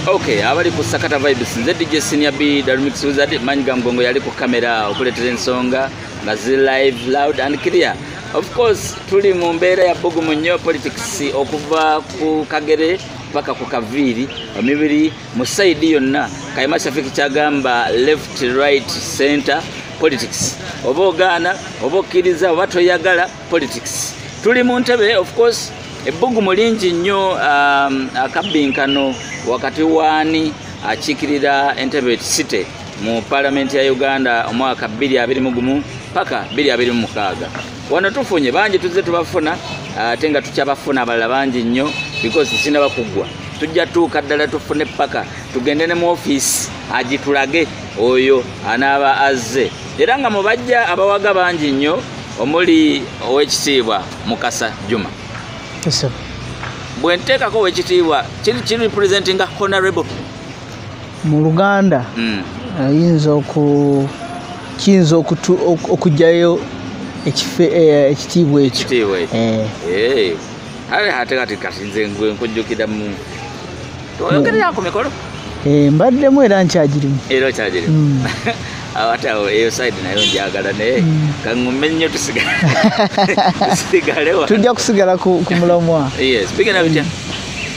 Okay, abali ku Sakata Vibes nze DJ Senior B Darumix Wizard manyi ga mgongo yali ku kamera okuletera ensonga nga zi live loud and clear. Of course tuli mu mbeera ya bugumu nnyo politics okuva ku kagere paka ku kaviiri omibiri mu saidi yonna Kayima Shafik kyagamba left right center politics oba ogaana oba okkiriza oba toyagala politics tuli mu ntebe of course ebbugumu lingi nnyo um, akabbinkano wakati waani akiikirira entebe city mu palamenti ya uganda omwaka 221 paka 226 wano tufunye bangi tuzze tubafuna ate nga tukyabafuna abalala bangi nnyo because sinaba kuggwa tujja tuuka ddala tufune paka tugende ne mu ofiisi agitulage oyo anaaba azze era nga mu bajja abawaga bangi nnyo omuli owekitiibwa mukasa juma bwenteekako owekitiibwa kiri kiri representinga honorable mu luganda hmm. ayinza oku kiyinza okugyayo eh, ekitiibwa ekyo eh. eh. ate kati kati nze nkujjukira mu oyogerera ku mikolo eh, mbaddemu era nkyagirimu era okyagirimu mm. awatawo eyo side nayo njagala naye mm. kaŋume nnyo tusigalewa tujja kusigala ku mulamwa bigenda bitya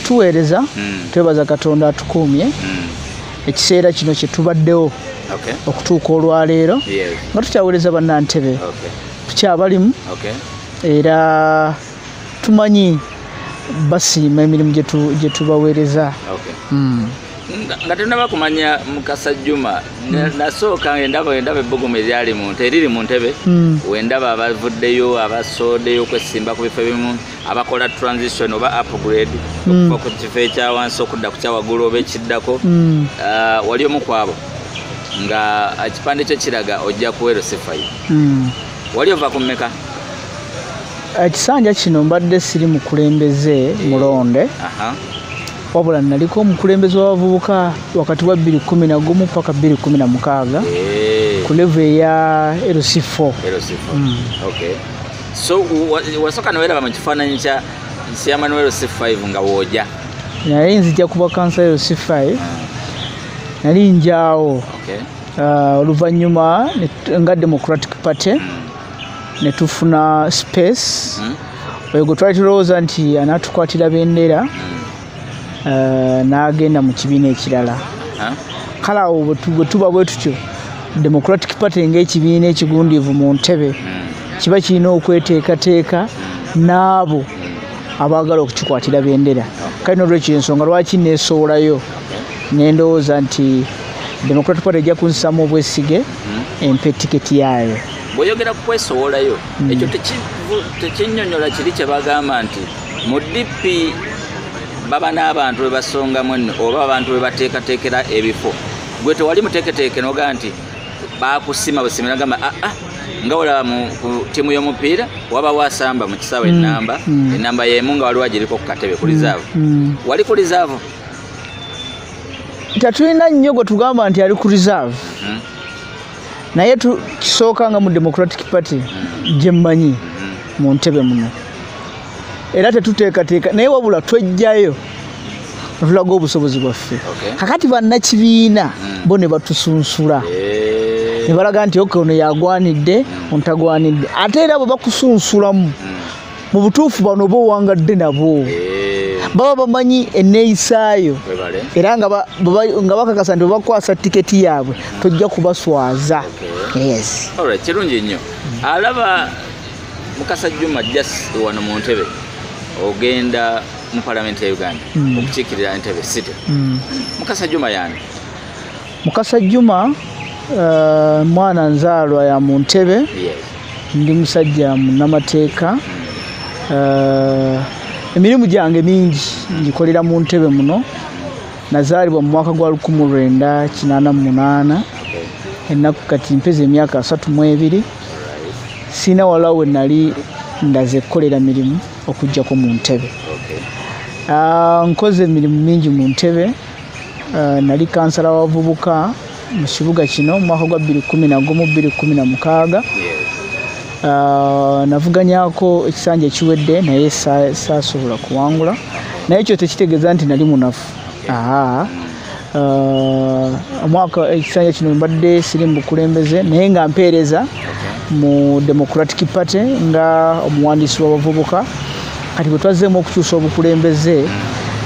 tuweereza mm. twebaza katonda atukuumye ekiseera kino kyetubaddewo okutuuka olwaleero nga tukyaweereza bannantebe tukyabalimu era tumanyi basiima emirimu gye tubaweereza hmm. nga tenaba kumanya mukasa juma hmm. nasooka endaba endaba ebbugumu eryali muntu eriri mu ntebe hmm. wendaba abavuddeyo abasoodeyo okwesimba ku bifo ebimu abakola transition oba upgrade okuva ku kifo ekyawansi okudda ku kyawaggulu oba ekiddako ah, wali omu kwabo nga ekipande kyo kiraga ojja kuweero sifayo wali ova ku mmeka ekisanja kino mbadde siri mukulembeze eh, mulonde wabula naliko omukulembeze w'abavubuka wakati wa 211 paka 216 eh. ku levu eya lc4 mm. so wasooka newelaba mu kifaananyi kya chairman wa lc5 nga wooja naye nzija kuba kansa ya lc5 ah. nali njaawo ah, oluvannyuma nga democratic party mm. ne tufuna space hmm? oyo gwe twali tulowooza nti anatukwatira bendera hmm. eh, n'agenda mu kibiina ekirala kale awo bwe tuba bwe tutyo democratic party ng'ekibiina ekigundiivu mu ntebe hmm. kiba kirina okweteekateeka n'abo abaagala okukikwatira bendera kale nolwekyo ensonga lwaki neesowolayo nendowooza nti democratic party ejja kunsamu obwesige empe tiketi yaayo bw'oyogera ku kwesowolayo hmm. ekyo tekinyonyola kiri kye bagamba nti mu dp baba n'abantu bwe basongamu enno oba abantu bwe bateekateekera ebifo gwe tewali muteeketeeke noga nti bakusima busimira gamba aa ah, ah, nga olaba mu tiimu y'omupiira wabawo asamba mu kisaawa hmm. enamba hmm. enamba y'emu nga waliwo agiriko ku katebe ku rizaavu wali ku rizaavu tetulina nnyo gwe tugamba nti ali ku rizaavu naye kisooka nga mu democratic party gyemmanyi mu ntebe muno era tetuteekateeka naye wabula twejjayo atulaga obusobozi bwaffe kakati bannakibiina hmm. bo ne batusunsula eh. ne balaga nti oke ono yagwanidde ontagwanidde ate era bwe bakusunsulamu hmm. mu butuufu bano oba owangadde nabo eh. baba bamanyi eneeyisaayo era nga bakakasa nti bakwasa tiketi yaabwe tojja kubaswaza kirungi nnyo alaba mukasa juma just wano mu ntebe ogenda mu palamenti ya uganda hmm. okukiikirira entebe city hmm. mukasa juma yani Mukasa Juma uh, mwana nzaalwa ya mu Ntebe ndi musajja munamateeka uh, emirimu gyange mingi ngikolera mu Ntebe muno nazaalibwa mu mwaka gwa lukumu lwenda kinaana mu munaana ennaku kati mpeza emyaka asatu mu ebiri siina walawo we nali ndaze kukolera mirimu okujjako mu Ntebe uh, nkoze emirimu mingi mu Ntebe Eh, nali kansala wabavubuka mu kibuga kino mu mwaka gwa 21216 eh, navuganyako ekisanja ekiwedde naye saasobola kuwangula naye ekyo tekitegeeza nti nali munafu eh, omwaka ekisanja kino mbadde siri mu bukulembeze naye nga mpeereza mu democratic party nga omuwandiisi wabavubuka kati bwe twazzeemu okukyusa obukulembeze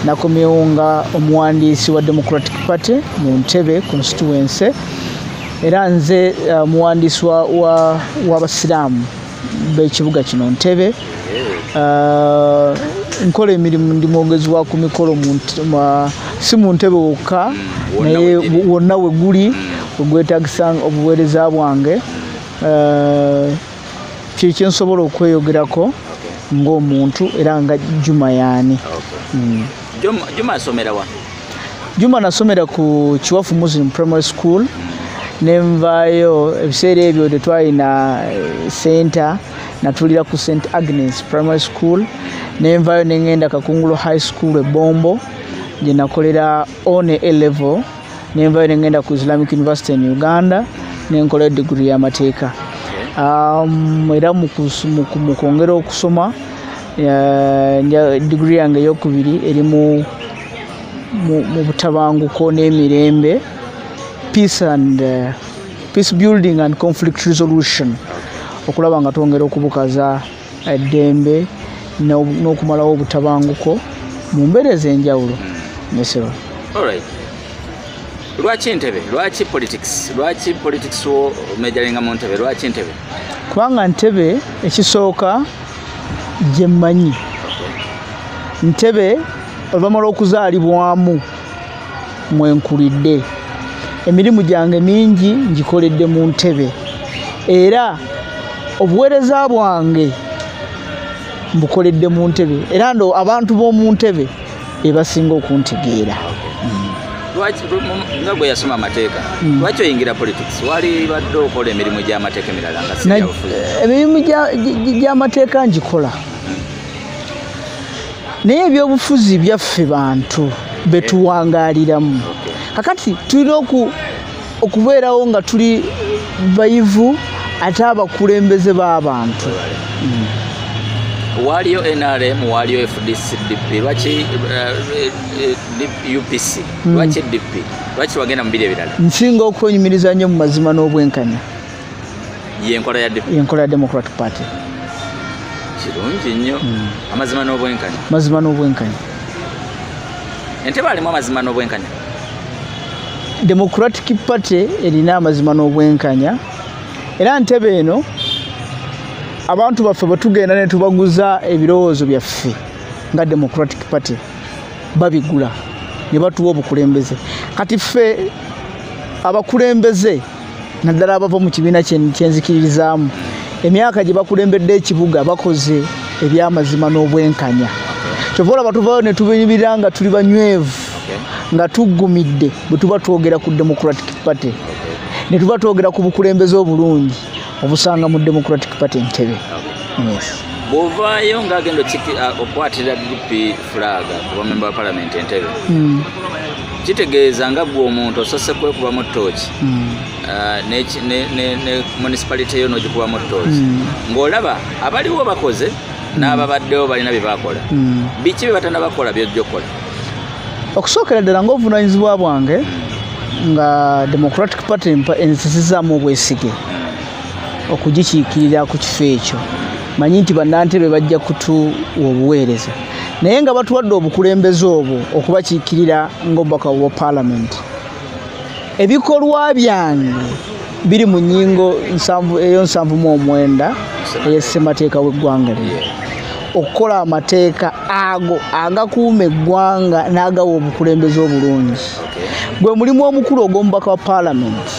nakomyewo nga omuwandiisi wa democratic party mu ntebe constituency era nze uh, muwandiisi w'abasiraamu b'ekibuga kino ntebe uh, nkola emirimu ndi mwogezi wa ku mikolo si mu ntebe wokka hmm, naye wonna we guli ogwetagisa obuweereza bwange uh, kyekyensobola okweyogerako ngaomuntu era nga juma yaani hmm. juma asomera wa juma nasomera ku kiwafu muslim primary school nenvaayo ebiseera ebyo tetwalina eh, center natulira ku st agnes primary school nenvaayo nengenda kakungulu high school ebombo gyenakolera one elevel nenvayo nengenda ku islamic university in uganda nenkola digiri yamateeka um, era mukwongera okusoma uh, digiri yange eyokubiri eri mu butabanguko n'emirembe peace and uh, peace building and conflict resolution okulaba nga twongera okubukaza eddembe n'okumalawo obutabanguko mu mbeera ez'enjawulo nesebo lwaki ntebe lwaki politics lwaki politics wo mejalinga mu ntebe lwaki ntebe kubanga ntebe ekisooka gye mmanyi ntebe oluvanyuma lw'okuzaalibwamu mwenkulidde emirimu gyange mingi ngikoledde mu ntebe era obuweereza bwange mbukoledde mu ntebe era ndo abantu b'omu ntebe ebasinga okuntegeera lwaki nga gwe yasoma amateeka hmm. lwaki oyingira politics wali badde okola emirimu gy'amateeka emirala nga emirimu gy'amateeka ngikola naye ebyobufuzi byaffe bantu betuwangaaliramu kakati tulina okubeerawo nga tuli bayivu ate abakulembeze b'abantu waaliyo nrm waaliyo fdcdp lwaki eh, eh, eh, upc hmm. lwaki dp lwaki wagenda mu biri ebirala nsinga okwenyumiriza nnyo mu mazima n'obwenkanya yenkola ya yenkola ya democratic party kirungi nnyo hmm. amazima n'obwenkanya mazima n'obwenkanya entebe alimu amazima n'obwenkanya democratic party erina amazima n'obwenkanya era ntebe eno abantu baffe bwe tugenda ne tubaguza ebirowoozo byaffe nga democratic party babigula ne batuwa obukulembeze kati ffe abakulembeze naddala abava mu kibiina kyenzikiririzaamu emyaka gye bakulembedde ekibuga bakoze ebyamazima n'obwenkanya kyova olaba tuvayo ne tubinyumira nga tuli banywevu nga tuggumidde bwe tuba twogera ku democratic party ne tuba twogera ku bukulembeze obulungi obusanga mu democratic party ntebe bwovaayo ngaagenda uh, okwatirira dp fulaaga kuba memba wa palamenti entebe hmm. kitegeeza nga gwe omuntu osose kwekubamu tooki hmm. ah, ne municipality yo nogikubamu tooki hmm. ng'olaba abaliwo bakoze n'ababaddewo balina bye bakola biki bye batana bakola byojja okukola okusookera ddala ngaobuvunaanyizibwa bwange nga democratic party enzisizaamu obwesige okugikiikirira ku kifo ekyo manyi nti bannantebe bajja kutuwa obuweereza naye nga batuwadde obukulembeze obwo okubakiikirira ngaobubaka bwa palamenti ebikolwa byange biri mu nyingo eyo nsanvu mu omwenda eyessemateeka w'eggwanga lino okukola amateeka ago agakuuma eggwanga n'agawa obukulembeze obulungi gwe mulimu omukulu ogw'omubaka wa palamenti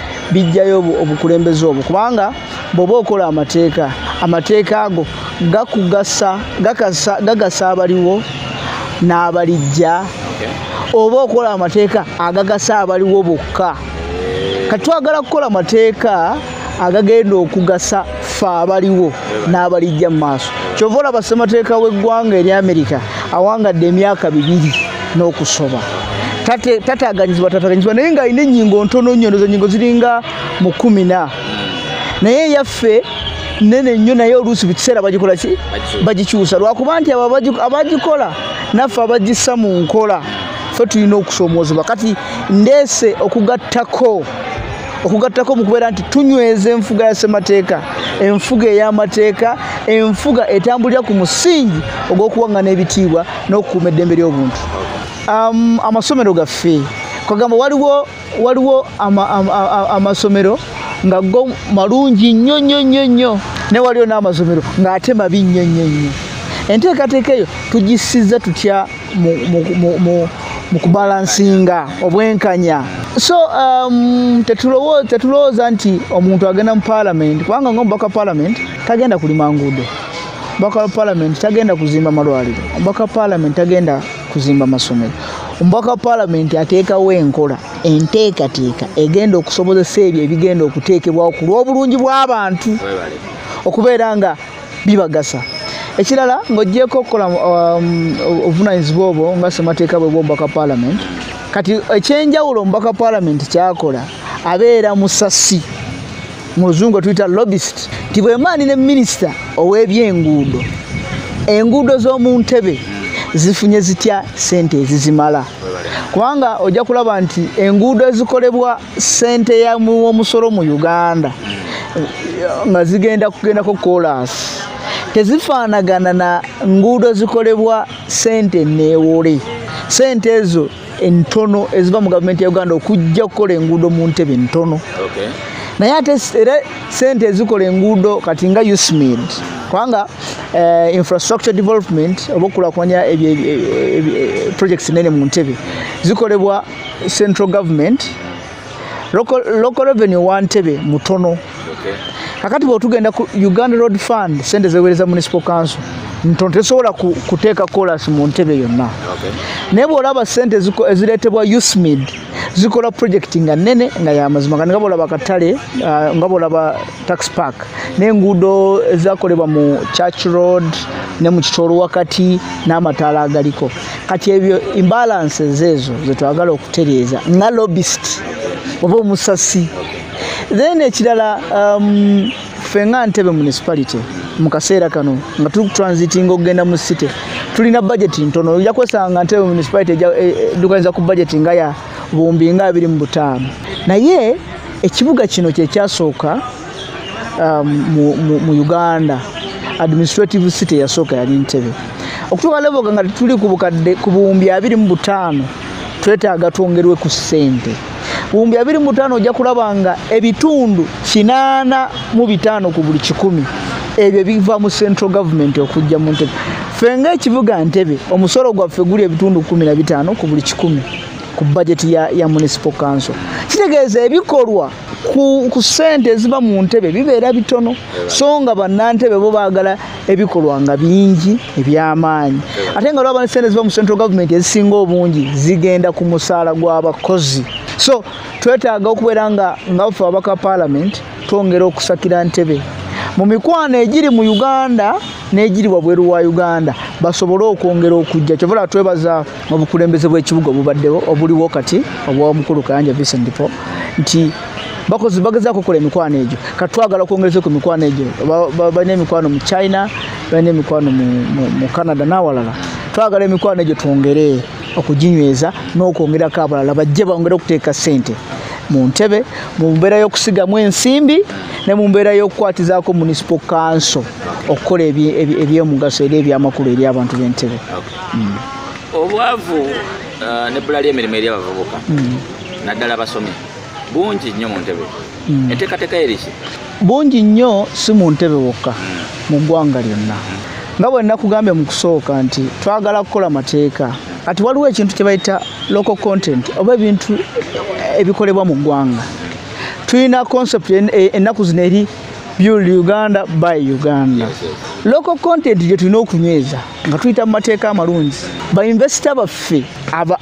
bijjayo obukulembeze obwo kubanga bwoba okola amateeka amateeka ago gakugasa gagasa abaliwo n'abalijja oba okola amateeka agagasa abaliwo bokka kati twagala kukola amateeka agagenda okugasa ffe abaliwo n'abalijja mu maaso kyova olaba ssemateeka w'eggwanga eri amerika awangadde emyaka bibiri n'okusoba tataganyizibwa tataganyizibwa naye ng'alina ennyingo ntono nnyo nozo nyingo ziringa mu kumi na naye eyaffe nene nnyo naye oluusi buli kiseera bagikola ki bagikyusa lwakuba nti abo abagikola naffe abagissa mu nkola ffe tulina okusoomoozebwa kati ndeese okugattako okugattako mu kubeera nti tunyweza enfuga ya ssemateeka enfuga ey'amateeka enfuga etambulira ku musingi ogw'okuwaŋŋana ebitiibwa n'okukuuma eddembe ly'obuntu um, amasomero gaffe kwagamba waliwo waliwo amasomero ama, ama, ama nga go malungi nnyo nnyo nnyo nnyo ne waliyo n'amasomero ng'ate mabi nnyo nnyo nnyo enteekateeka eyo tugisiza tutya mu kubalansinga obwenkanya so um, tetulowooza nti omuntu agenda mu palamenti kubanga nga omubaka palamenti tagenda kulima nguudo omubaka wa palamenti tagenda kuzimba malwaliro omubaka wa palamenti tagenda kuzimba masomero omubaka wa palamenti ateekawo enkola enteekateeka egenda okusobozesa ebyo ebigenda okuteekebwawo ku lw'obulungi bw'abantu okubeera nga bibagasa ekirala ng'ogyeko okukola um, obuvunanyizibwa obwo nga semateeka bwe bwomubaka palament kati ekyenjawulo omubaka palament kyakola abeera musasi mu luzungu etuyita lobist nti bwemaani ne minisita ow'ebyenguudo enguudo z'omu ntebe zifunye zitya sente ezizimala kubanga ojja kulaba nti enguudo ezikolebwa sente ya omusolo mu uganda nga zigenda kugendako kolasi tezifaanagana na nguudo zikolebwa sente neewole sente ezo entono eziva mu gavumenti ya uganda okujja okukola enguudo mu ntebe entono naye ate era sente ezikola enguudo kati nga usmid kubanga eh, infrastructure development oba okulakulanya projects nene mu ntebe zikolebwa central government local, local revenue wa ntebe mutono okay. kakati bwetugenda ku uganda road fund sente zewereza municipal council ntono tesobola kuteeka colas mu ntebe yonna okay. naye bwolaba sente ezireetebwa usmid zikola project nga nene nga yamazima nga nga bwolaba katale uh, nga bwolaba tax park n'enguudo ezakolebwa mu church road ne mu kitolo wakati n'amataala agaliko kati ebyo imbalances ezo zetwagala okutereeza nga lobist oba omusasi then ekirala um, fe nga ntebe municipality mu kaseera kano nga tuli kutransitinga okugenda mu city tulina budget ntono oja kwesanga ntebe municipality edukaniza e, e, ku budget nga ya buwumbi nga abiri mu butaano naye ekibuga kino kyekyasooka um, mu uganda administrative city eyasooka yali ntebe okutuuka leboga nga tetuli ku bukadde ku buwumbi abiri mu butaano twetaaga twongerwe ku ssente buwumbi abiri mu butaano ojja kulaba nga ebitundu kinaana mu bitaano ku buli kikumi ebyo biva mu central government okujja mu ntebe ffe ngaekibuga ntebe omusolo gwaffe guli ebitundu kumi na bitaano ku buli kikumi ku bajeti ya, ya municipal council kitegeeza ebikolwa ku, ku sente eziva mu ntebe bibeera bitono so nga bannantebe bo baagala ebikolwa nga bingi ebyamaanyi ate nga lwaba ne sente eziva mu central government ezisinga obungi zigenda ku musaala gw'abakozi so twetaaga okubeera nga nga bafe ababaka parliament twongera okusakira ntebe mu mikwano egiri mu uganda n'egiri wabweru wa uganda basobole okwongera okujja kyovula twebaza obukulembeze bw'ekibuga obubaddewo obuliwo kati obwomukulu kayanja vincent po nti bakozi bagezaako okukola emikwano egyo kati twagala okwongereza ku mikwano egyo balina emikwano mu china balina emikwano mu canada n'awalala twagala emikwano egyo twongere okuginyweza n'okwongerako abalala bajje bongere okuteeka ssente mu ntebe mu mbeera y'okusigamu ensimbi ne mu mbeera y'okukwatizaako municipal council okukola ebyomugaso era ebyamakulu eri abantu b'entebe mm. obwavu uh, nebbula ly'emirimu eri abavubuka mm. naddala basomi bungi nnyo mu ntebe mm. enteekateeka yeriki bungi nnyo si mu ntebe wokka mu ggwanga lyonna nga bwe nakugambye mu kusooka nti twagala kukola mateeka kati waliwo ekintu kye bayita local content oba ebintu ebikolebwa mu ggwanga tulina concept e, ennaku zino eri build uganda by uganda local content gye tulina okunyweza nga tuyita mu mateeka amalungi bainvesita baffe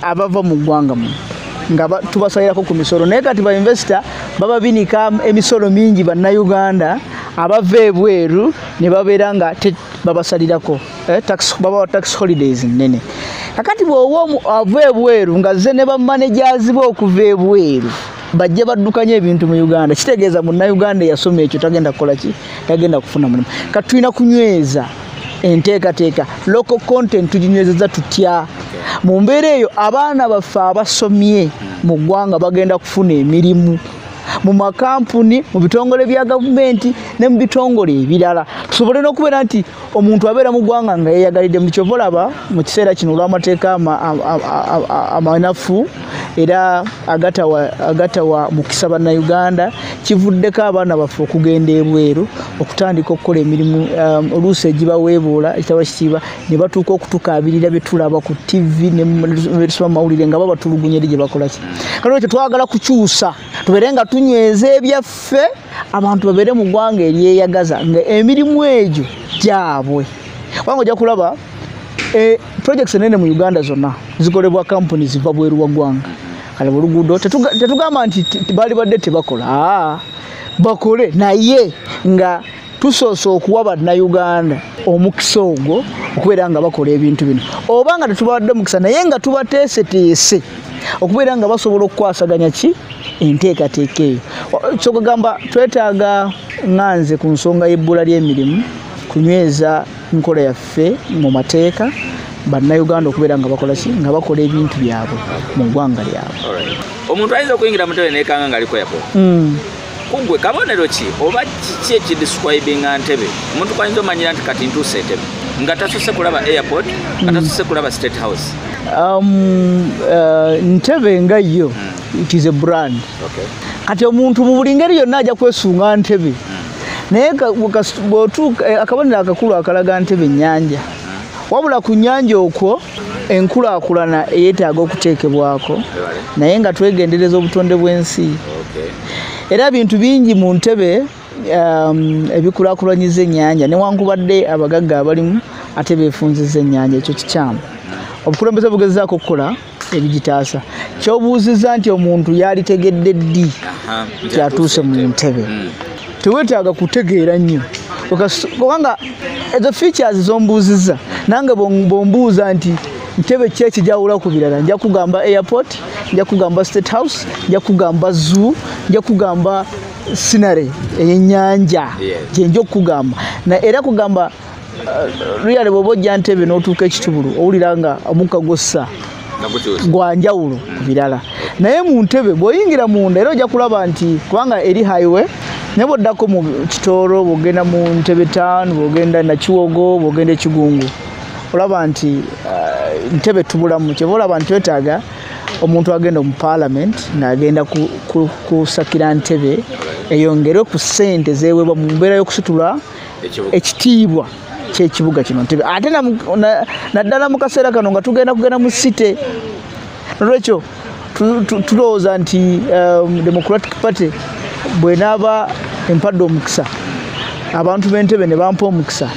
abava mu ggwanga mu nga tubasalirako ku misolo naye kati bainvesita bababinika emisolo mingi bannayuganda abava ebweru ne babeera nga babasalirako eh, babawa tax holidays nnene kakati bwoba ava ebweru nga ze ne bamanejazi be okuva ebweru bajja baddukanya ebintu mu uganda kitegeeza munnauganda eyasoma ekyo tagenda kukola ki tagenda kufuna mulimu kati tulina kunyweza enteekateeka local content tuginywezeza tutya mu mbeera eyo abaana baffe abasomye mu ggwanga bagenda kufuna emirimu mu makampuni mu bitongole bya gavumenti ne mu bitongole ebirala tusobole n'okubeera nti omuntu abeera mu ggwanga nga yeyagalidde mu kyova olaba mu kiseera kino olw'amateeka amanafu era agatawa mukisa bannayuganda kivuddeko abaana baffe okugenda ebweru okutandika okukola emirimu um, oluusi egibaweebuula ekitaba kisiiba ne batuuka okutukaabirira bye tulaba ku ttivi nebetusoma mu mawulire nga babatulugunya eri gye bakolaki kati ekyo twagala kukyusa tubeere nga tunyweza ebyaffe abantu babeere mu ggwanga eryeyagaza nga emirimu egyo gyabwe kubanga ojja kulaba e, projects enene mu uganda zonna zikolebwa kampuni ziva bweru wa ggwanga kale buluguudo tetugamba nti bali badde tebakola bakole naye nga tusoose okuwa bannayuganda omukisa ogwo okubeera nga bakola ebintu bino oba nga tetubawadde mukisa naye nga tubateeseteese okubeera nga basobola okukwasaganya ki enteekateeka eyo kyokugamba twetaaga nga nze ku nsonga y'ebbula ly'emirimu kunyweza nkola yaffe mu mateeka bannayuganda okubeera nga bakola ki nga bakola ebintu byabwe mu ggwanga lyabwe omuntu ayinza okuyingira mutebe nekanga ngaaliko yakola hmm. kugwe kabonero ki oba kiki ekidiscribinga ntebe omuntu kwayinza omanyira nti kati ntuusa entebe nga tasuse kulaba airport nga tasuse kulaba state house um, uh, ntebe nga yo hmm. it is a brand kati omuntu mu buli ngeri yonna ajja kwesunga ntebe hmm. naye eh, akabonero akakulu akalaga ntebe nyanja wabula ku nnyanja okwo enkulaakulana eyeetaaga okuteekebwako naye nga twegendereza obutonde bw'ensi era bintu bingi mu ntebe um, ebikulakulanyiza ennyanja newankubadde abagagga abalimu ate beefunziza ennyanja ekyo kikyamu obukulembeze bugezaako okukola ebigitaasa kyobuuzizza nti omuntu yalitegedde ddi kyatuuse mu ntebe hmm. tewetaaga kutegeera nnyo kubanga ezo features zombuuzizza nange bombuuza nti ntebe ki ekijawula ku birala nja kugamba airport nja kugamba state house nja kugamba zoo nja kugamba sinare eyenyanja gyenja okukugamba era kugamba luyale bwoba ojja ntebe n'otuuka ekitubulu owulira nga omukka gwossa gwa njawulo ku birala naye mu ntebe bw'oyingira munda era ojja kulaba nti kubanga eri highway naye bwoddako mu kitooro bwogenda mu ntebe town bwogenda nakiwogo bwogenda ekigungu olaba nti uh, ntebe tubulamu kyeva olaba nti twetaaga omuntu agenda mu parliament ng'agenda kusakira ntebe eyongere ku ssente zeewebwa mu mbeera y'okusitula ekitiibwa kyekibuga kino ntebe ate naddala mu kaseera kano nga tugenda kugenda mu site nolwekyo tulowooza nti um, democratic party bwenaaba empadde omukisa abantu b'entebe ne bampa omukisa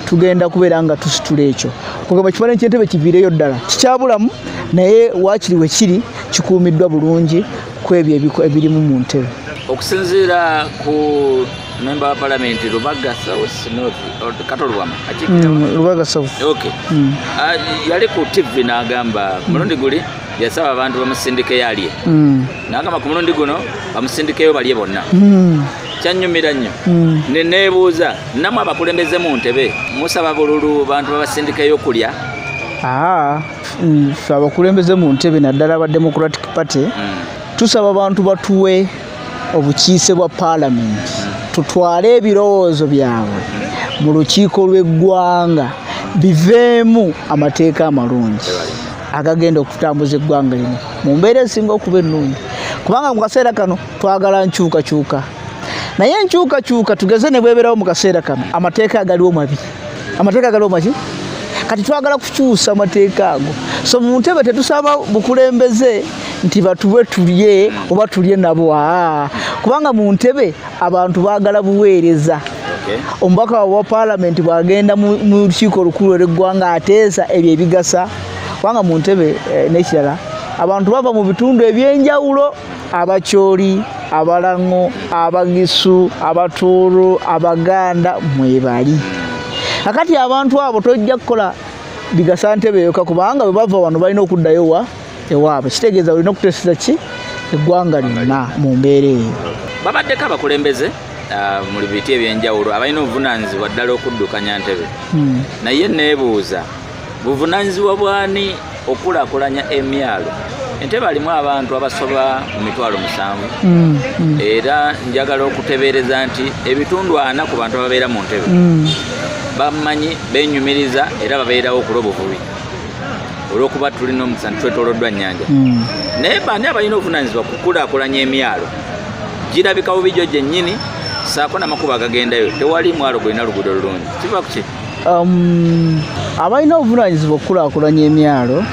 tugenda kubeera nga tusitula ekyo kugamba kibale nti entebe kiviireyo ddala kikyabulamu naye waakiri we kiri kikuumiddwa bulungi kwebyo ebirimu mu ntebe okusinziira ku memba wa palamenti lubaga south north kato lubama mm, lubaga south ok mm. ah, yali ku tv n'agamba ku mulundi guli yasaba abantu bamusindike yalye mm. n'agamba ku mulundi guno bamusindikeyo balye bonna kyanyumira nnyo ne neebuuza namwe abakulembeze mu ntebe musaba bululu bantu babasindikeyo okulya ah. ffe abakulembeze mu ntebe naddala aba democratic party tusaba abantu batuwe obukiise bwa paalamenti tutwale ebirowoozo byabwe mu lukiiko lw'eggwanga biveemu amateeka amalungi agagenda okutambuza eggwanga lino mu mbeera esinga okuba ennungi kubanga mu kaseera kano twagala nkyukakyuka naye enkyukakyuka tugeze ne bweberawo mu kaseera kano amateeka agaliwo mabiri amateeka galomba ki kati twagala kukyusa amateeka ago so mu ntebe tetusaba bukulembeze nti batube tulye oba tulye nabo aa kubanga mu ntebe abantu baagala buweereza omubaka wa palamenti bwagenda mu lukiiko olukulu olweggwanga ateesa ebyo ebigasa kubanga mu ntebe eh, n'ekirala abantu bava mu bitundu eby'enjawulo abakyoli abalaŋo abagisu abatuuru abaganda mwebali akati abantu abo tojja kukola bigasa ntebe yoka kubanga bwe bava wano balina okuddayo wa ewaabwe kitegeeza olina okuteseza ki eggwanga lyonna mu mbeera eyo babaddeko abakulembeze Ah, mu biti ebyenjawulo abalina obuvunanyizibwa ddala okuddukanya ntebe hmm. naye neebuuza buvunanyizibwa bwani okulakulanya emyalo entebe alimu abantu abasoba mu mitwalo musanvu mm, mm. era njagala okutebereza nti ebitundu ana ku bantu ababeera mu ntebe mm. bamanyi benyumiriza era babeerawo okuloba obubi olwokuba tulina omukisa nitwetoloddwa nyanja naye bani abalina obuvunanyizibwa kukulakulanya emyalo girabika bubijo gyenyini saako namakubo agagendayo tewali mwalo gulina luguudo lulungi kiva kuki Um, abalina obuvunanyizibwa okukulakulanya emyalo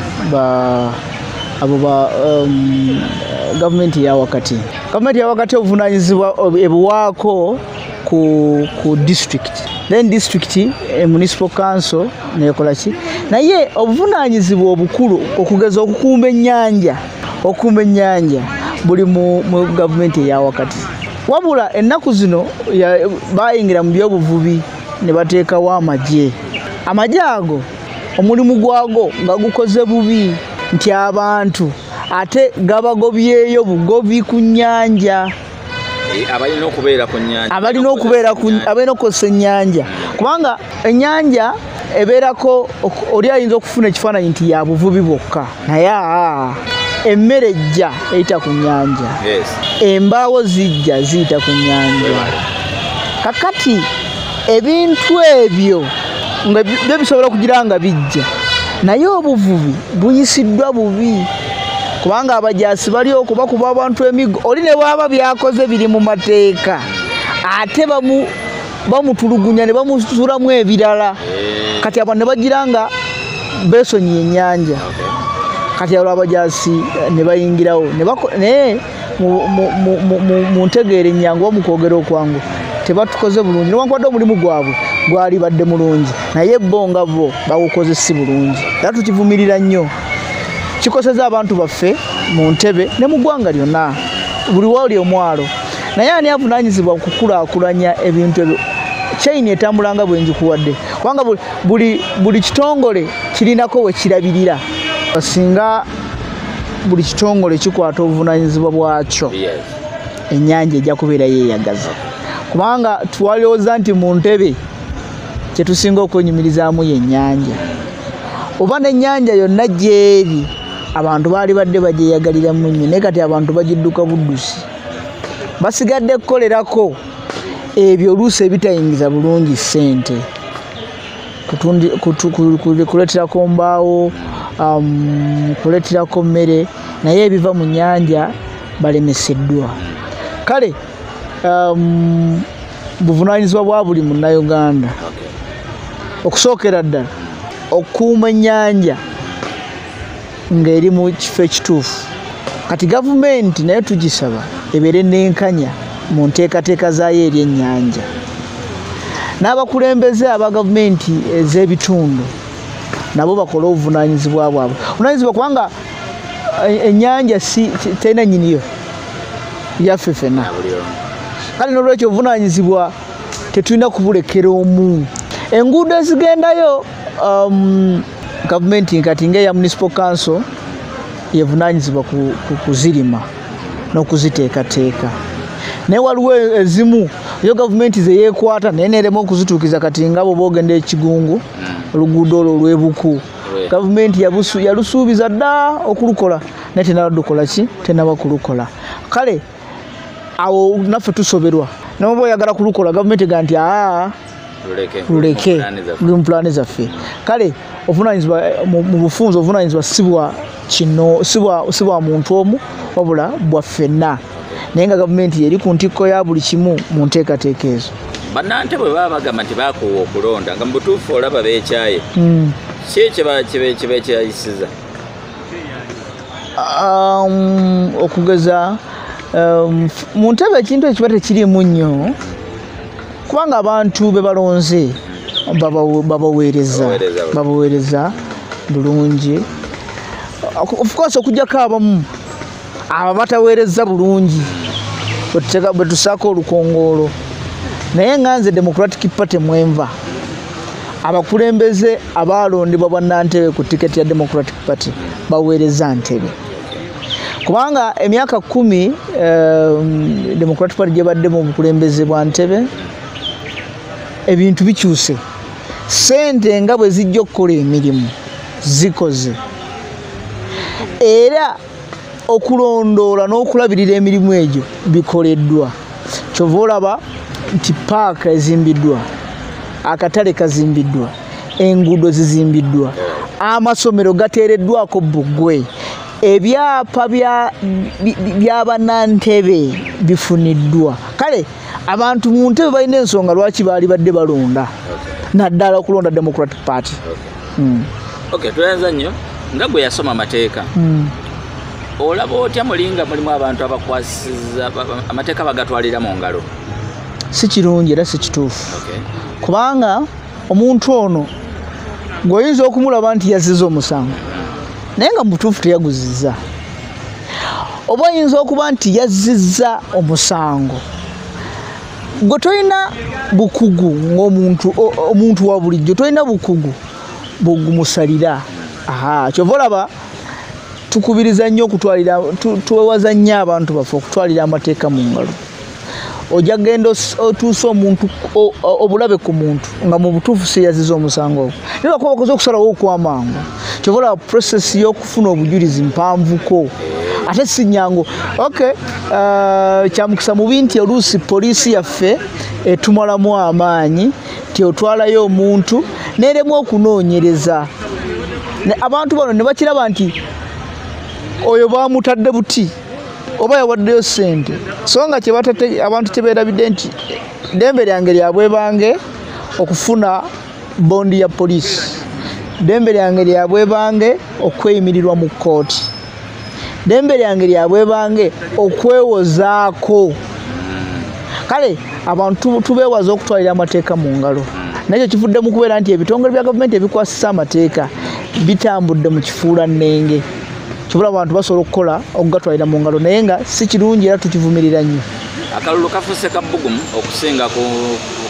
abo um, gavumenti yawakati gavumenti yawakati obuvunanyizibwa ebuwaako ku district then district e eh, municipal council nekolaki naye obuvunanyizibwa obukulu okugeza okukumba enyanja okukumba enyanja buli mu gavumenti eyawakati wabula ennaku zino bayingira mu byobuvubi ne bateekawo amagye amagye ago omulimu gwago nga gukoze bubi nti abantu ate gabagobyeyo bugobi ku nnyanja eh, abalina okubeera ku nyanja abalina okubeera abalina okukozesa ennyanja kubanga ennyanja ebeerako oli ayinza okufuna ekifaananyi nti yabuvubi bwokka naye aa emmere ejja eyita ku nyanja yes embaawo zijja ziyita ku nyanja kakati ebintu ebyo nga bi- byo bisobola okugira nga bijja naye obuvubi buyisiddwa bubi kubanga abajaasi bali okubakuba abantu emiggo oli ne bwaba byakoze biri mu mateeka ate bamu bamutulugunya ne bamusulamu ebirala eh. kati abantu ne bagira nga besonyiye ennyanja kati abo abajaasi eh, ne bayingirawo naye mu ntegeera ennyangu oba mu kwogera okwangu tebatukoze bulungi newankubadde omulimu gwabwe gwali badde mulungi naye bo nga bo bawukoze si bulungi era tukivumirira nnyo kikoseza abantu baffe mu ntebe ne mu ggwanga lyonna buli wali omwalo naye ani avunanyizibwa okukulakulanya ebintu ebyo chain etambulanga bwengikuwadde kubanga buli kitongole kirinako wekirabirira singa buli kitongole kikwata obuvunanyizibwa bwakyo enyanja ejja kubeera yeyagaza kubanga twalowooza nti mu ntebe kyetusinga okwenyumirizaamu yenyanja oba nenyanja yonna gyeri abantu baali badde bagyeyagaliramu nnyo naye kati abantu bagidduka buddusi basigadde kukolerako ebyo oluusi ebitayingiza bulungi ssente kuleeterako mbaawo um, kuleeterako mmere naye ebiva mu nyanja balemeseddwa kale um, buvunanyizibwa bwa buli munnauganda okusookera ddala okukuuma ennyanja ng'eri mu kifo ekituufu kati gavumenti nayo tugisaba ebeere n'enkanya mu nteekateeka zaayo eri ennyanja n'abakulembeze aba gavumenti ez'ebitundu nabo bakole obuvunaanyizibwa bwabwe obuvunaanyizibwa kubanga eh, ennyanja si terina nyiniyo yaffe fena kale n'olwekyo obuvunaanyizibwa tetulina kubulekera omu enguudo ezigendayo um, gavumenti kati nga eya municipal council yevunanyizibwa kuzirima n'okuziteekateeka naye waliwo ezimu eyo gavumenti zeyekwata naye nerema okuzituukiza kati nga bwoba ogenda ekigungu oluguudo olwo olwebuku gavumenti yalusuubiza dda okulukola naye tenadukola ki tenaba kulukola kale awo naffe tusoberwa noba oyagala kulukola gavumenti ga nti aa luleke luli mu pulaani zaffe kale obuvunanyizibwa mu bufunzi obuvunanyizibwa sibwa kino sibwa muntu omu wabula bwaffenna naye nga gavumenti yeri ku ntikko ya buli kimu mu nteekateeka ezo banante bwe baba bagamba nti bakuwa okulonda nga mubutuufu olaba bekyaye hmm. si kyebakyayisiza um, okugeza um, mu ntebe ekintu ekiba tekirimu nnyo kubanga abantu be balonze babaweereza babaweereza bulungi ofcourse okujjako abamu abo bataweereza bulungi bwetusaako olukongoolo naye nga nze democratic party mwenva abakulembeze abaalondebwa bwannantebe ku tiketi ya democratic party baweereza ntebe kubanga emyaka kumi eh, democratic party gyebaddemu obukulembeze bwa ntebe ebintu bikyuse sente nga bwe zijja okukola emirimu zikoze era okulondoola n'okulabirira emirimu egyo bikoleddwa kyova olaba nti paaka ezimbiddwa akatale kazimbiddwa enguudo zizimbiddwa amasomero gateereddwako bugwe ebyapa bya banantebe bifuniddwa kale abantu mu ntebe balina ensonga lwaki baali badde balonda naddala okulonda democratic party hmm. tweyanza nnyo nga gwe yasoma amateeka hmm. olaba otya mulinga mulimu abantu abakwasiza amateeka bagatwalira mu ngalo si kirungi era si kituufu kubanga omuntu ono ng'oyinza okumulaba nti yaziza omusango naye nga mubutuufu teyaguziza oba oyinza okuba nti yaziza omusango gwe tolina bukugu ngaomuntu omuntu wa bulijjo tolina bukugu bwegumusalira aha kyova olaba tukubiriza nnyo okutwalira twewaza nnyo abantu baffe okutwalira amateeka mu ngalo ojja kugenda otuusa omuntu obulabe ku muntu nga mu butuufu siyaziza omusango ogwo naye bakuba bakoze okusalawo okwamangu kyova olaba process y'okufuna obujulizi mpanvuko ate sinyangu ok uh, kyamukisa mubi nti oluusi poliisi yaffe etumalamu amaanyi ti otwalayo omuntu neremu okunoonyereza abantu bano ne bakiraba nti oyo bamutadde buti oba yawaddeyo sente so nga abantu kyeberabidde nti dembe lyange lyabwebange okufuna bondi ya poliisi dembe lyange lyabwebange okweyimirirwa mu kkooti dembe lyange lyabwebange okwewozaako kale abantu tubeewaza okutwalira amateeka mu ngalo nakyo kivudde mu kubeera nti ebitongole bya gavumenti ebikwasisa amateeka bitambudde mu kifuula nnenge kibula abantu basobola okukola okugatwalira mu ngalo naye nga si kirungi era tukivumirira nnyo akalulu kafuuse kabbugumu okusinga ku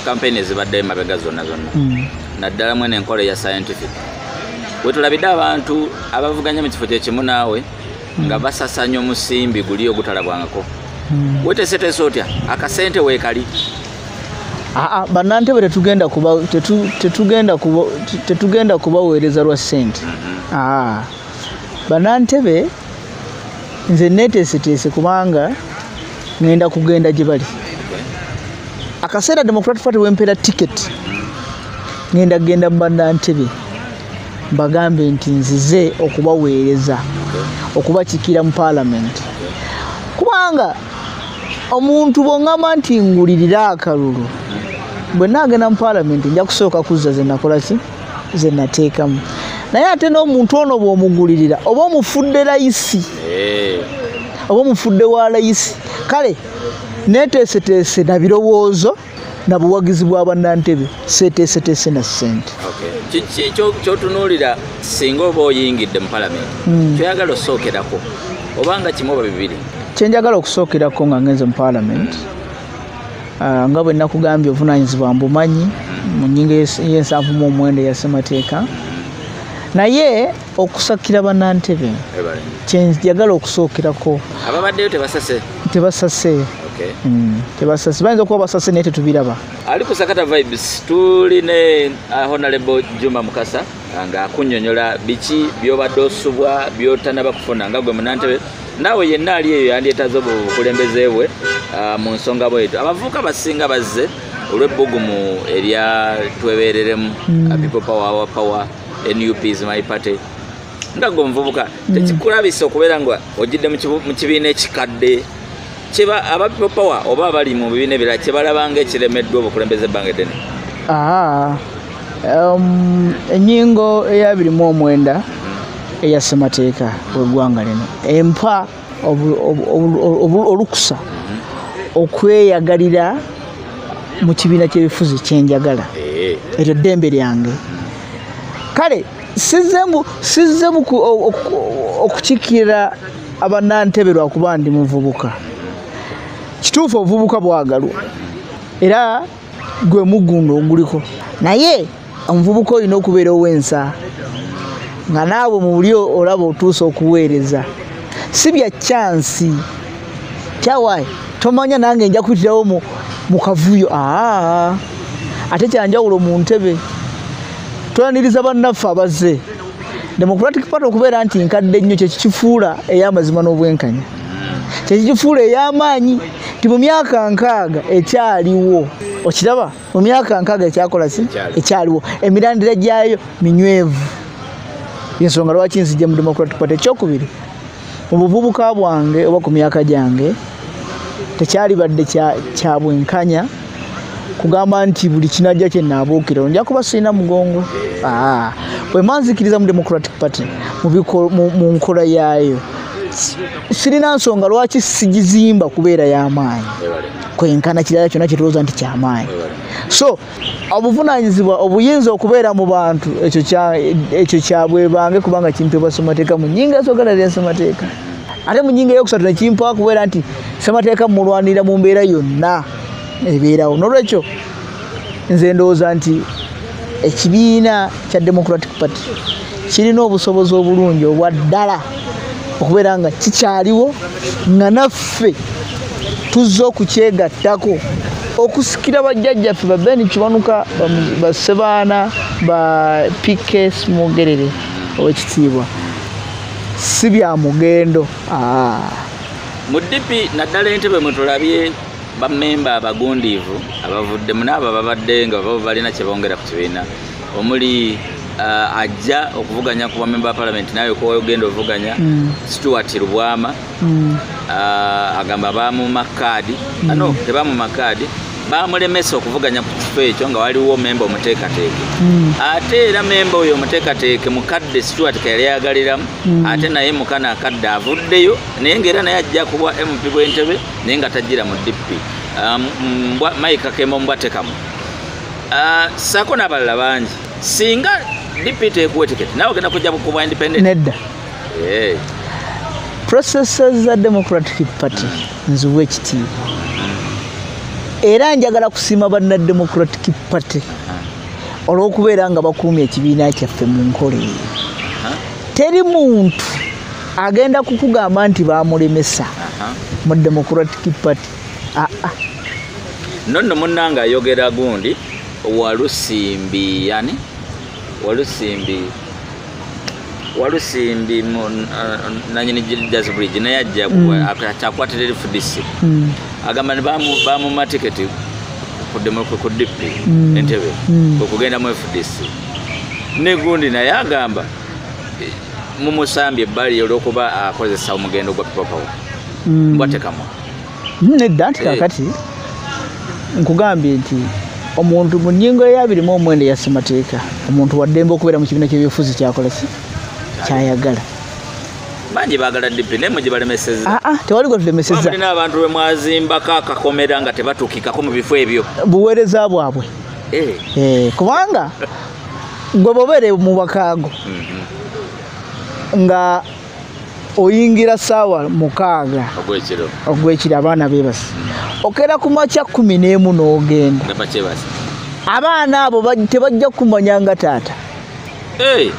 kampeyini ezibadde emabega zonna zonna hmm. naddala mwene enkola eya scientific wetulabidde abantu abavuganya mu kifo kyekimu naawe hmm. nga basasanya omusimbi guli ogutalabwangako hmm. weteseteesa otya akasente weekali aa banantebe tetugenda kubaweereza lwa sente mm-hmm. aa banantebe nze neteeseteese kubanga ŋenda kugenda gye bali akaseera democratic party wempeera ticket ŋenda kugenda mu banantebe mbagambe nti nzize okubaweereza okubakikiira mu paalamenti kubanga omuntu bwongamba nti ngulirira akalulu bwe naagenda mu paalamenti nja kusooka kuzza ze nakola ki ze nateekamu naye ate n'omuntu ono bw'omugulirira oba omufudde layisi eh. oba omufudde wa layisi kale neeteeseteese na birowoozo na buwagizi bwa bannantebe seeteeseteese na ssente kyotunuulira singa oba oyingidde mu palamenti hmm. kyoyagala osookerako oba nga kimu oba bibiri kyenjagala okusookerako nga ngenze mu palamenti Ah, nga bwe nakugambye obuvunaanyizibwa mbumanyi mu nyinga y'ensanvu mu omwenda eya ssemateeka naye okusakira banantebe kyenjagala okusookerako ababaddeyo tebasase tebasase hmm, tebasase bayinza okuba basase naye tetubiraba ali kusakata vibes tuli ne ah, honalebo juma mukasa nga akunyonyola biki byobadde osubwa byotanaba kufuna nga gwe munantebe naawe yenna ali eyo yandyetaze obukulembeze bwe ah, mu nsonga bwetu abavubuka basinga bazze olw'ebbugumu erya twebereremu hmm. ah, people power our power nup is my party nga gwe omuvubuka hmm. tekikulabisa okubeera nga ojidde mu kibiina ekikadde kyeba aba people power oba abali mu bibiina ebirala kyebalabanga ekiremeddwa obukulembeze ebbanga eddene um, enyingo eyabiri mu omwenda eya ssemateeka weggwanga lino empa olukusa okweyagalira mu kibiina kyebifuzi kyenjagala eh. eryo ddembe lyange kale sizemu okukiikirira abanantebe lwakuba ndi muvubuka kituufu obuvubuka bwagalwa era gwe mugunda oguliko naye omuvubuka olina okubeera ow'ensa nga naawe mu buli olaba otuusa okuweereza si bya kyansi kyawaayi tomanya nange nja kuyitirawo mu kavuyo aa ate kyanjawulo mu ntebe twaniriza bannaffe abazze democratic party okubeera nti nkadde nnyo kyekikifuula ey'amazima n'obwenkanya kyekikifuula ey'amaanyi nti mu myaka nkaaga ekyaliwo okiraba mu myaka nkaaga ekyakola si ekyaliwo emirandira gyayo minywevu yensonga lwaki nzijja mu democratic party ekyokubiri mu buvubuka bwange oba ku myaka gyange tekyalibadde kya bwenkanya kugamba nti buli kinajja kye naabuukira nja kuba sirina mugongo ah, bwe manzikiriza mu democratic party mu nkola yaayo sirina nsonga lwaki sigizimba kubeera y'amaanyi kwenkana kirala kyonna kyetulooza nti kyamaanyi so obuvunaanyizibwa obuyinza okubeera mu bantu ekyo kyabwebange kubanga kimpebwa ssemateeka mu nyinga esogala lya ssemateeka ate mu nyinga eyokusatu nekimpawa kubeera nti ssemateeka mulwanirira mu mbeera yonna ebeerawo nolwekyo nze ndowooza nti ekibiina kya democratic party kirina obusobozi obulungi obwa ddala okubeera nga kikyaliwo nga naffe tuzze okukyegattako okusikira bajjajjaffe babeni kiwanuka basebaana ba pk smogerere owekitiibwa si bya mugendo mu dipi naddala entebe mwetulabye bamemba abagundiivu abavuddemu naabo babadde nga babo balina kyebongera ku kibiina omuli uh, ajja okuvuganya ku bamemba ba palamenti nawe kogenda ovuganya mm. stuart lubwama mm. uh, agamba bamuma kaadi mm. ano ah, tebamuma kaadi bamulemesa okuvuganya ku kifo ekyo nga waliwo memba omuteekateeke mm. ate era memba oyo omuteekateeke mukadde stuart keyali yayagaliramu mm. ate naye mukana akadde avuddeyo naye ngaera naye ajja kubwa mp bwentebe naye nga tajjira mu dp um, mike kakembo mbwatekamu Ah, saako n'abalala bangi singa dpt ekuwa etiketi nawe ogenda kujja kubwa independent nedda eh. processes za democratic party nziwa ekitiibwa era njagala kusiima banna democratic party olw'okubeera nga bakuumya ekibiina kyaffe mu nkola eyo teri muntu agenda kukugamba nti bamulemesa mu democratic party ah, ah. nonno munnange ayogera gundi walusimbi yani walusimbi walusimbi uh, nanyini jazz bridge naye ajja mm. akyakwatira eri fdc mm. agamba ni bamuma tiketi ku dip mm. entebe okugenda mu fdc negundi naye agamba mumusambye ebbali olwokuba akozesa omugendo gwa pipopawo mbwatekamwa nedda nti eh. kakati nkugambye nti omuntu mu nyingo eyabiri mu omwenda eya ssemateeka omuntu waddembe okubeera mu kibiina kyebyobufuzi kyakolaki kyayagala bangi bagala dipi naye mugibalemeseza ah, ah, tewali gwetulemesezamulina abantu bemwazimbako akakomera nga tebatukikako mu bifo ebyo buweereza bwabwe eh. Eh, kubanga gwe bobeere mu bakaago mhm. nga oyingira saawa mukaaga ogwekiro abaana bebasi okera ku makya kumi n'emu n'ogenda abaana abo tebajja kumanya nga taata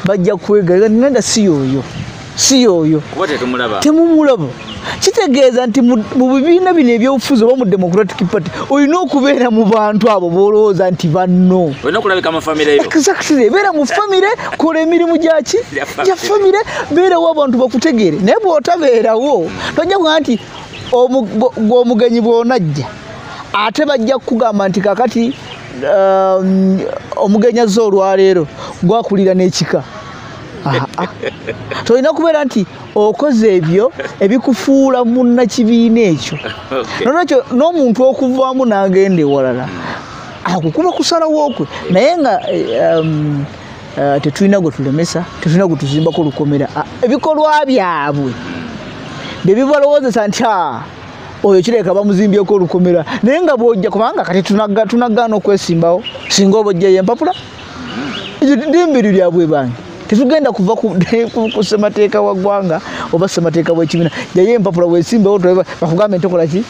bajja kwegera nenda si yoyo si yoyo temumulaba kitegeeza nti mu bibiina bino ebyobufuzi oba mu democratic party olina okubeera mu bantu abo bolowooza nti banno beera mu famire kola emirimu gyaki gya famire beerawo abantu bakutegeere naye bwotabeerawo tojja kuga nti gwomugenyi bwonajja ate bajja kukugamba nti kakati um, omugenyi azze olwaleero gwakulira n'ekika tolina kubeera nti okoze ebyo ebikufuula munnakibiina ekyo nolwekyo n'omuntu okuvaamu n'agenda ewalala akukuba kusalawo okwe naye nga eh, um, eh, tetulina gwe tulemesa tetulina gwe tuzimbako olukomera ah, ebikolwa byabwe bye bibalowoozesa nti a ah, oyo kireka bamuzimbyeko olukomera naye nga bwojja kubanga kati tunagaana okwesimbawo singa oba ojjayo empapula ddembe eryo lyabwe bangi tetugenda kuva ku semateeka wa ggwanga oba semateeka w'ekibiina yayo empapula wesimbewo bakugambe ntokola ki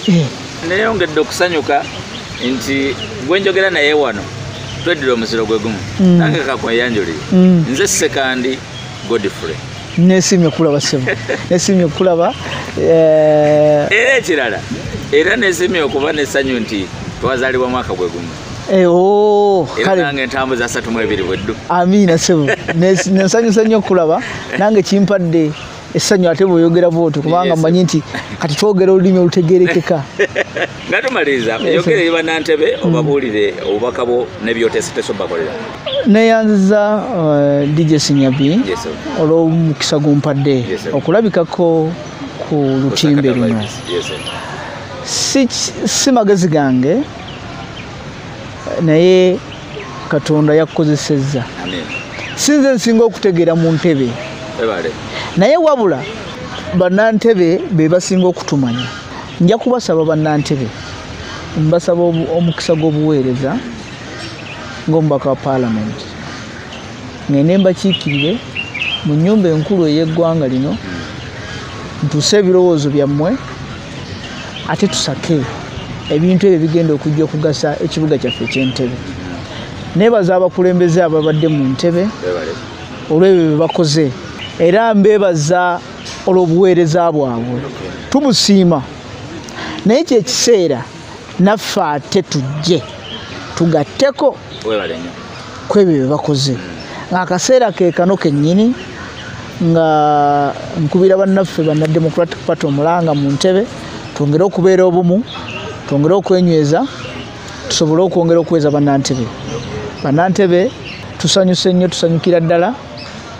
eh. neyongedde okusanyuka nti gwenjogera naye wano tweddira omuziro gwe gumu mm. nange kakweyanjulire mm. nze sekandi godfrey nesimye kulaba sebo nesimye kulaba eh, era ekirala era nesimye okuba nesanyu nti twazalibwa mwaka gwe gumu Eh, oh, nange ntambuza asatu mu ebiri bweddu amiina sebo nensanyusa nnyo okulaba nange kimpadde essanyu ate bweoyogera bwotyo kubanga mmanyi nti kati twogera olulimi olutegerekeka nga tumaliriza yogere ye banantebe mm. obabuulire obubaka bwo nebyoteseteso bakolera neyanziza uh, dj sinyabi olwomukisa gumpadde okulabikako ku lutimbe luno si magezi gange naye katonda yakukozesezza sinze nsinga okutegeera mu ntebe naye wabula banantebe be basinga okutumanya nja kubasaba banantebe mbasaba omukisa gw'obuweereza ng'omubaka wa paalamenti ngende mbakiikirire mu nyumba enkulu ey'eggwanga lino ntuuse ebirowoozo byammwe ate tusake ebintu ebyo bigenda okujja okugasa ekibuga kyaffe ekyentebe nebaza abakulembeze ababadde mu ntebe olwebyo byebakoze era mbebaza olwobuweereza bwabwe tumusiima naye kyekiseera naffe ate tujje tugatteko kwebyo byebakoze ngaakaseera kekano kenyini nga nkubira bannaffe banna democratic party omulanga mu ntebe twongere okubeera obumu twongere okwenyweza tusobole okwongera okuweza bannantebe bannantebe tusanyuse nnyo tusanyukira ddala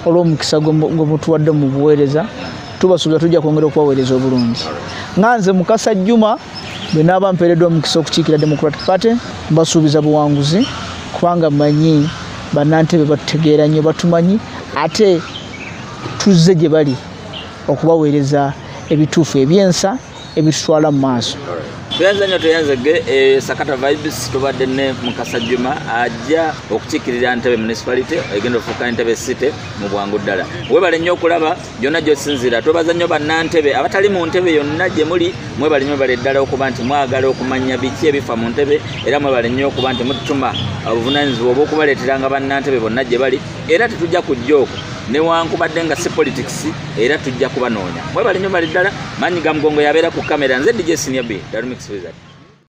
olw'omukisa gwemutuwadde mu buweereza tubasuubira tujja kwongera okubaweereza obulungi nga nze mukasa juma bwe naaba mpeereddwa omukisa okukiikira democratic party mbasuubiza buwanguzi kubanga manyi bannantebe batutegeera nnyo batumanyi ate tuzze gye bali okubaweereza ebituufu ebyensa ebitutwala mu maaso tuyanza nnyo tuyanzege eh, sakata vibes tubadde ne mukasa juma ajja okukiikirira ntebe municipality egenda ofuuka entebe city mu bwangu ddala webale nnyo okulaba gyonna gyosinziira twebaza nnyo bannantebe abatali mu ntebe yonna gye muli mwebale nyo bale ddala okuba nti mwagala okumanya biki ebifa mu ntebe era mwebale nnyo okuba nti mututuma obuvunanyizibwa obwokubaleeteranga bannantebe bonna gye bali era tetujja kujja okwo newankubadde nga si politics era tujja kubanoonya mwebale nyo bali ddala manyi ga mugongo yabeera ku kamera nze dj senior b darumix wizard